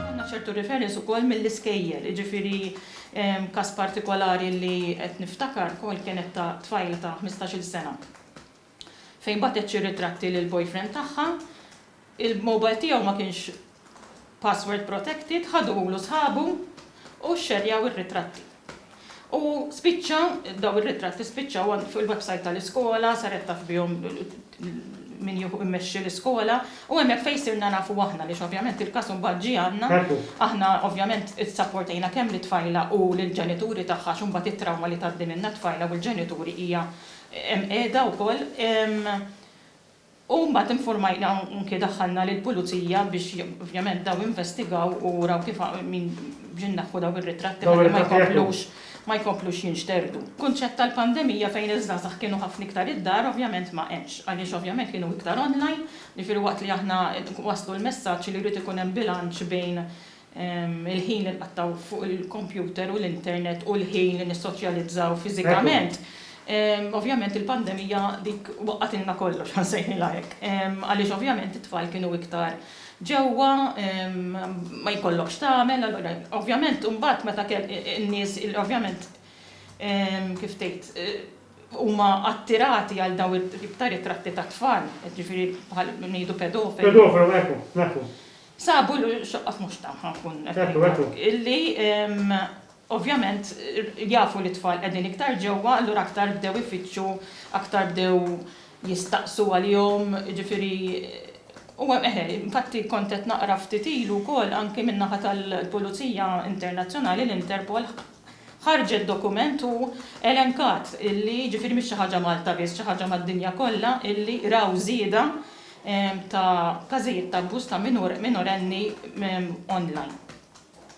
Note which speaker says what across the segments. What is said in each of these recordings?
Speaker 1: Għandna ċertu reference ukoll mill-iskejjel, jiġifieri każ partikolari li qed niftakar ukoll kienet ta' tfajla ta' ħmistax-il sena fejn bagħtet xi ritratti lill-boyfriend tagħha, il-mobile tiegħu ma kienx password protected, ħaduhulu sħabu u xxerjaw ir-ritratti. U spiċċa, dawn ir-ritratti spiċċaw fuq il-website tal-iskola, saret taf bihom min jieħu immexxi l-iskola, u hemmhekk fejn sirna nafu aħna għaliex ovvjament il-każ imbagħad ġie għandna. Aħna ovvjament issapportajna kemm lit-tfajla u lill-ġenituri tagħha għax imbagħad it-trawma li tgħaddi minnha t-tfajla u l-ġenituri hija hemm qiegħda wkoll. U mbagħad infurmajna u anki daħħalna lill-pulizija biex ovvjament dawn investigaw u raw kif biex inneħħu dawn ir-ritratti ħalli ma jkomplux ma jkomplux jinxterdu. Kunċett tal-pandemija fejn iż-żgħażagħ kienu ħafna iktar id-dar ovvjament ma hemmx, għaliex ovvjament kienu iktar online, jiġifieri waqt li aħna nwasslu l-messaġġ li jrid ikun hemm bilanċ bejn il-ħin li nqattgħu fuq il-kompjuter u l-internet u l-ħin li nissoċjalizzaw fiżikament, ovvjament il-pandemija dik waqqagħtilna kollox, ħa nsejħilha hekk, għaliex ovvjament it-tfal kienu iktar ġewwa, ma jkollok x'tagħmel, allura ovvjament imbagħad meta kellek in-nies li ovvjament kif tgħid huma attirati għal dawn it-tip ta' ritratti tat-tfal, jiġifieri bħal ngħidu pedofili. Pedofili, hekk hu, hekk
Speaker 2: hu. Sabu li
Speaker 1: x-xoqqat mhux tagħha nkun qed ngħidlek. Illi ovvjament jafu li t-tfal qegħdin iktar ġewwa, allura aktar bdew ifittxu, aktar bdew jistaqsu għalihom, jiġifieri u eħe, infatti kont qed naqra ftit ilu wkoll anki min-naħa tal-Pulizija Internazzjonali, l-Interpol, ħarġet dokument u elenkat illi, jiġifieri mhix xi ħaġa Malta biss, xi ħaġa mad-dinja kollha, illi raw żieda ta' każijiet ta' abbuż ta' minur minorenni online.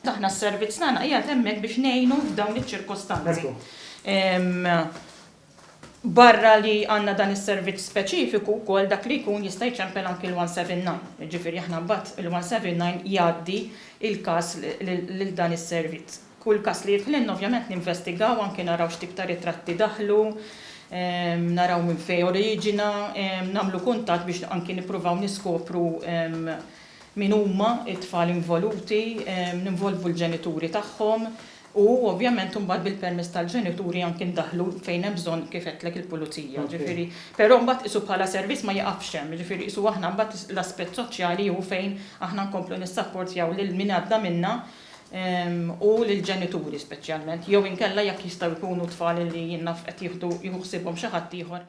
Speaker 1: Aħna s-servizz tagħna qiegħed hemmhekk biex ngħinu f'dawn iċ-ċirkostanzi. Barra li għandna dan is-servizz speċifiku wkoll dak li jkun jista' jċempel anki l-179, jiġifieri aħna mbagħad il-179 jgħaddi l-każ lil dan is-servizz. Kull każ li jidħlilna ovvjament ninvestigaw anki naraw x'tip ta' ritratti daħlu, naraw minn fejn oriġina, nagħmlu kuntatt biex anki nippruvaw niskopru min huma t-tfal involuti, ninvolvu l-ġenituri tagħhom, U ovvjament imbagħad bil-permess tal-ġenituri anki ndaħħlu fejn hemm bżonn kif għedtlek il-pulizija, ġifieri. Però mbagħad qisu bħala servizz ma jiqafx hemm, jiġifieri qisu aħna mbagħad l-aspett soċjali hu fejn aħna nkomplu nissapportjaw lil min għadda minna u lill-ġenituri speċjalment jew inkella jekk jistgħu jkunu tfal li jien naf qed jieħdu jieħu ħsiebhom xi ħaddieħor.